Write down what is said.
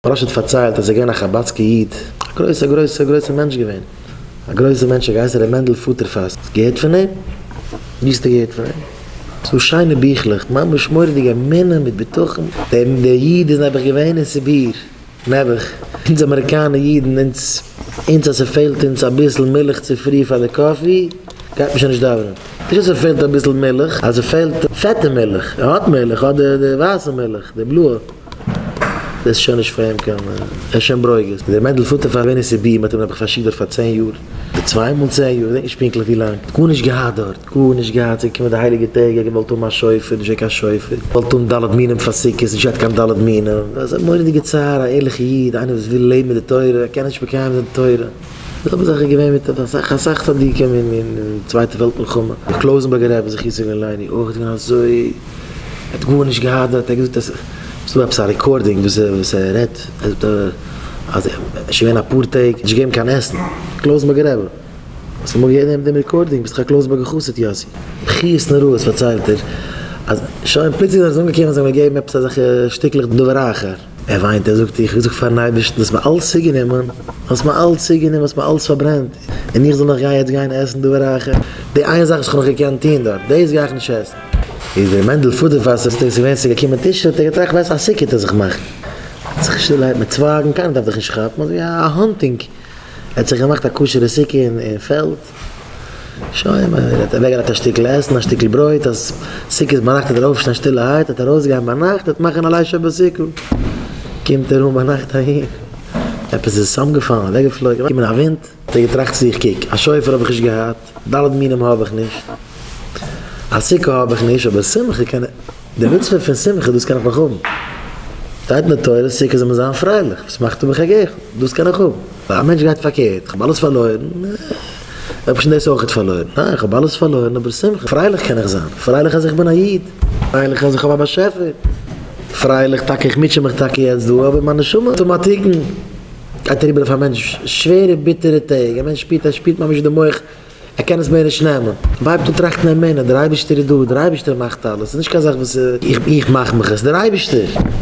פרשת פארציילט אז ער געווען א חבדסקע איד א גרויסע גרויסע גרויסע מענטש געווען א גרויסע מענטש האט געהייסן ר' מענדל פוטערפאס האסט געהערט פון אים? וויאזטו געהערט פון אים? ס'דא שיינע ביכלעך ממש מורא'דיג אמונה מיט בטחון דער איד איז נעבעך געווען אין סיביר נעבעך אונז אמעריקאנע אידן אונז אונז אז ס'פעלט אונז אביסל מילך צופרי פאר די קאפי גייט מען שוין נישט דאווענען נישט אז ס'פעלט אביסל מילך אז ס'פעלט פעטע מילך ער האט מילך ער האט די ווייסע מילך די בלויע. דאס איז שוין נישט פאר אים קיין ער איז שוין ברוגז. דער מענדל פאטער פאר ווען עס איז ביהמ ד האט אים נעבעך פארשיקט דארט פאר צען יאר אדער צוויי מאל צען יאר כ'דענק נישט פונקטליך ווי לאנג האט גארנישט געהאט דארט גארנישט געהאט ס'זענען געקומען די הייליגע טעג ער האט געוואלט האבן א שופר נישט געווען קיין שופר געוואלט האבן ד' מינים פאר סוכות נישט געהאט קיין ד' מינים אזא מורא'דיגע צער א ערליכע איד איינער וואס וויל לעבן מיט די תורה קען נישט מקיים זיין די תורה. די זעלבע זאך איז געווען מיט אסאך אסאך צדיקים אין אין צווייטע וועלט מלחמה, דער קלויזענבערגער רבי זכותו יגן עלינו אויך איז געווען אזוי, ער האט גארנישט געהאדעוועט, ער האט געזאגט אז ס'איז דא עפעס א רעקארדינג וואס ער וואס ער רעדט, ער זאגט אז ער איז שוין געווען אפאר טעג נישט געגעבן קיין עסן, קלויזענבערגער רבי, האסט אמאל געהערט דעם דעם רעקארדינג? ביסט דאך א קלויזענבערגער חסיד יאסי. בכיות נוראות פארציילט ער אז שוין פלוצלינג זענען זיי אנגעקומען זיי האבן געגעבן עפעס אזעלכע שטיקלעך דבר אחר. ער וויינט, ער זאגט, איך זאג פארן אייבערשטן, דו האסט מיר אלץ צוגענומען, דו האסט מיר אלץ צוגענומען, האסט מיר אלץ פארברענט, און איך זאל נאך גיין יעצט גיין עסן דבר אחר? די איין זאך וואס כ'האב נאך געקענט טון דארט, דאס גיי איך נישט עסן. איז דער מענדל פאדערפאסער צוטאגס געווען צו געקומען טישן, האט ער געטראכט, ווייסט, א סוכות וועט זיך מאכן, ער האט זיך שטילערהייט מיט צווייגן, קיינער דארף דיך נישט כאפן, אזוי ווי א האנטינג, ער האט זיך געמאכט א כשר'ע סוכה אין פעלד, שוין מען רעדט אוועקגעלייגט א שטיקל עסן א שטיקל ברויט אז סוכות ביינאכט איז דער אויפשטיין שטילערהייט אט ארויסגיין ביינאכט אט מאכן א ליל שבו סוכו קומט ער אן ביינאכט אהין עפעס איז צוזאמגעפאלן אוועקגעפלויגן אויף א ווינט האט ער געטראכט צו זיך קוק א שופר האב איך נישט געהאט ד' מינים האב איך נישט א סוכה האב איך נישט אבער שמחה קען איך די מצוה פון שמחה דאס קען איך נאך האבן שטייט אין די תורה סוכות זאל מען זיין פרייליך וואס מאכט האב איך א געיכל דאס קען איך האבן. א מענטש גייט פארקערט, איך האב אלעס פארלוירן, ער האט פשוט דאס אויכעט פארלוירן, ניין איך האב אלעס פארלוירן אבער שמחה, פרייליך קען איך זיין, פרייליך אז איך בין א איד, פרייליך אז איך האב א באשעפער, פרייליך טאקע איך מוטשע מיך טאקע יעצט דא אבער מיין נשמה אטאמאטיקן גייט אריבער אויף א מענטש שווערע ביטערע טעג, א מענטש שפירט אז ער שפירט ממש ווי די מח ער קען עס מער נישט נעמען, ער הייבט אן טראכטן אמונה, דער אייבערשטער איז דא, דער אייבערשטער מאכט אלעס, ס'איז נישט קיין זאך וואס איך מאך מיך עס, דער אייבערשטער.